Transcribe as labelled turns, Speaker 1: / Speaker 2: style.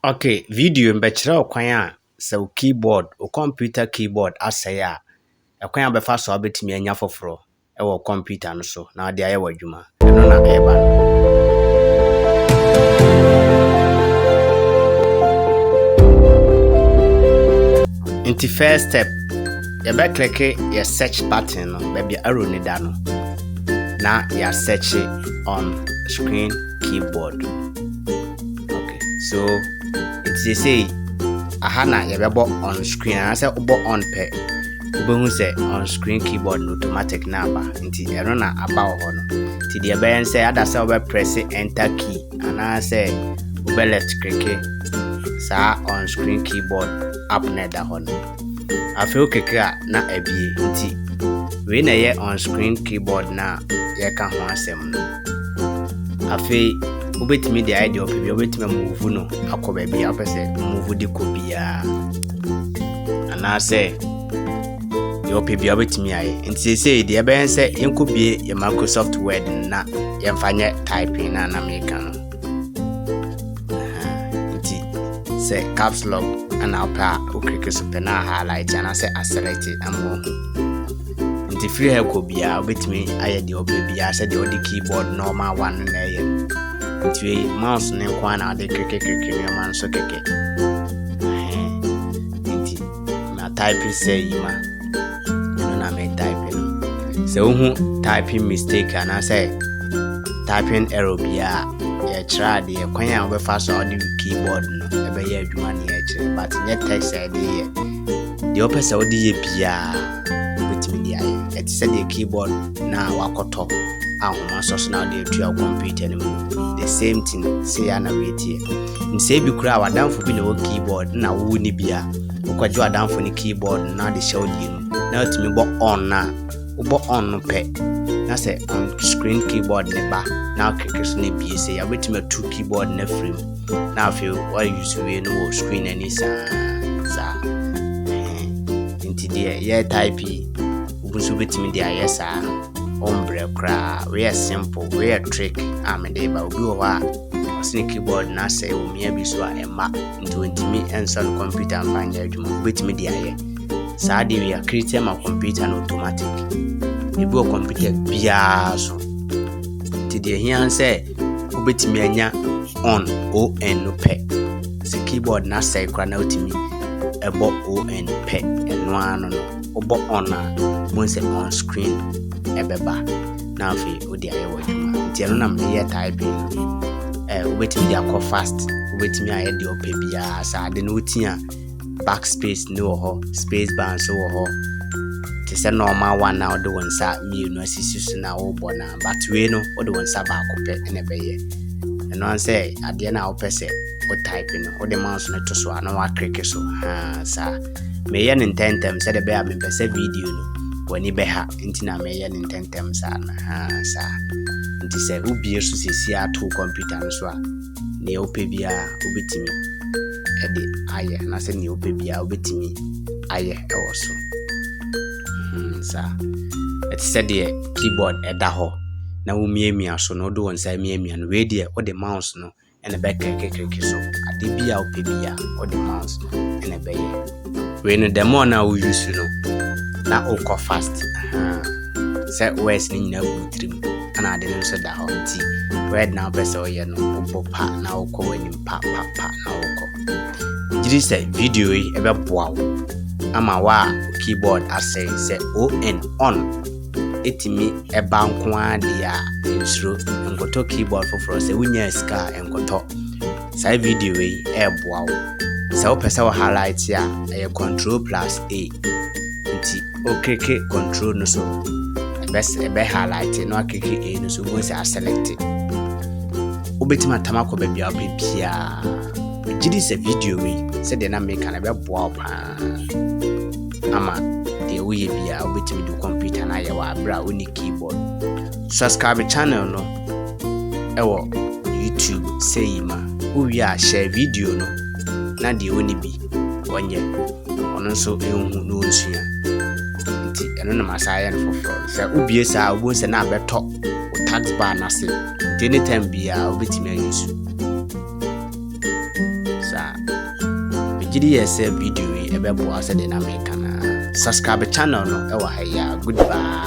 Speaker 1: Okay, video no bɛkyerɛ wo kwan a sɛ wo keyboard, wo kɔmputa keyboard asɛe a, ɛkwan a wobɛfa so a wobɛtumi anya foforɔ wɔ kɔmputa no so na wode ayɛ w'adwuma. Ɛno na ɛreba no. nti first step yɛbɛkleke yɛ search button no baabi arrow no da no na yɛasɛkye on screen keyboard Okay, so nti seesei aha na yɛbɛbɔ on screen anaasɛ wobɔ on pɛ wobɛhu sɛ on screen keyboard no automatic na aba nti ɛno na aba wɔ hɔ no nti deɛ ɛbɛyɛ sɛ ada sɛ wobɛprɛse enter key anaasɛ wobɛ left klike saa on screen keyboard app na ɛda hɔ no afei wokeke a na abie nti wei na ɛyɛ on screen keyboard na yɛka ho asɛm no afei wobɛtumi de ayɛ deɛ ɔpɛ bia wobɛtumi amuvu no akɔ baabi a wopɛ sɛ muvu de kɔ biara anaasɛ deɛ ɔpɛ bia wobɛtumi ayɛ nti seesei deɛ ɛbɛyɛ sɛ yɛnkɔbie yɛ microsoft word na yɛmfa nyɛ typing no a na meka no nti sɛ caps lock na wopɛ a wokliki so pɛ na highlight anaasɛ aselect ama wahu nti firi ha kɔ biara wobɛtumi ayɛ deɛ wopɛ biara sɛ deɛ wode keyboard normal one no na ɛyɛ nti mouse no nko a na wode krikrikrikri nneɛma no so kɛkɛ nti na type sɛ yi ma ɛno na me type no sɛ wohu typing mistake anaasɛ typing error biara yɛkyerɛ adeɛ kwan a wobɛfa so a wode keyboard no ɛbɛyɛ adwuma ne yɛkyerɛ but nyɛ text a ɛde yɛ deɛ wopɛ sɛ wode yɛ biara wobɛtumi de ayɛ ɛte sɛ deɛ keyboard na wakɔtɔ ahoma sɔ so na wode atua wo computer no mu the same thing sɛ yɛ na woatie nsɛ bi koraa wadamfo bi na wɔ keyboard na wowo ne bia Wokɔgye w'adamfo no keyboard no na ɔde hyɛ wo deɛ mu na watumi bɔ on no a, wobɔ on no pɛ na sɛ on screen keyboard ne ba na wokeke so no abie sɛ yɛ wobɛtumi atu keyboard no afiri mu na afei woayuse wie no wɔ screen ani saa saa nti deɛ yɛ type yi wobu so wobɛtumi de ayɛ saa ɔmbrɛ koraa woyɛ simple woyɛ trick a mede ba obi wɔ hɔ a ɔsene keyboard no asɛe wɔ mmea bi so a ɛma nti ɔntumi nsa no kɔmputa mfa nyɛ adwuma wobɛtumi de ayɛ saa deɛ wia created ma kɔmputa no automatic ebi wɔ kɔmputa biara so nti deɛ hia sɛ wobɛtumi anya on on no pɛ sɛ keyboard no asɛe koraa na wotumi ɛbɔ on pɛ ɛno ano no wobɔ on a wohu sɛ on screen ɛbɛba na afei wode ayɛ w'adwuma nti ɛno na mede yɛ typing no bi eh, wobɛtumi de akɔ fast wobɛtumi ayɛ deɛ ɔpɛ biara sɛ ade no woti a back space ne wɔ hɔ space bar nso wɔ hɔ te sɛ normal one na wode wo nsa mmienu asisi so na wobɔ no but wei no wode wo nsa baako pɛ na ɛbɛyɛ ɛno an sɛ adeɛ no a wopɛ sɛ wo type no wode mouse no to so a na woakreke so saa meyɛ no ntɛntɛm sɛdeɛ bɛyɛ a mempɛ sɛ video no w'ani bɛha nti na meyɛ no ntɛntɛm saa no ha saa nti sɛ wobie so sɛsi ato kɔmputa no so a nea wopɛ biara wobɛtumi de ayɛ anaasɛ nea wopɛ biara wobɛtumi ayɛ ɛwɔ so hmm, saa ɛte sɛ deɛ keyboard ɛda hɔ na womiamia so na wode wo nsa miamia no wei deɛ wode mouse no na ɛbɛkere kekereke so. Ade bi a wopɛ bi a, wode mouse no na ɛbɛyɛ. Wei no, the more na wo use no, na wokɔ fast. Sɛ words no nyinaa gu tirim, ɛna ade no nso da hɔ nti, word na wopɛ sɛ woyɛ no, wobɔ pa na wokɔ w'anim pa pa pa na wokɔ. Gyiri sɛ video yi ɛbɛboa wo ama wo a keyboard asɛe sɛ on on ɛtumi ɛba nko ara deɛ a nsuro nkɔtɔ keyboard foforɔ sɛ wonyaa sika a nkɔtɔ saa video yi ɛreboa wo sɛ wopɛ sɛ wo highlight a ɛyɛ control plus a nti woklike control no so ɛbɛ highlight na wakeke a no so wobɛhu sɛ aselect wobɛtumi atam akɔ baabi a wopɛ biaa gyidi sɛ video yi sɛdeɛ na meka no ɛbɛboa wo paa ama deɛ woyɛ biara wobɛtumi de computer no ayɛ wɔ aberɛ a wonni keyboard subscribe channel no ɛwɔ youtube sɛ yi ma wowie a hyɛ video no na deɛ wonni bi ɔnyɛ ɔno nso ɛhu na ɔnsua nti ɛno na masa ayɛ no foforɔ sɛ wobie saa a wobɛhu sɛ na abɛtɔ wo tax bar no ase nti anytime biara wobɛtumi ayɛ su Megye di yɛ sɛ video yi ɛbɛboa sɛdeɛ na meka no ara. Subscribe channel no ɛwɔ ha yi a. Goodbye.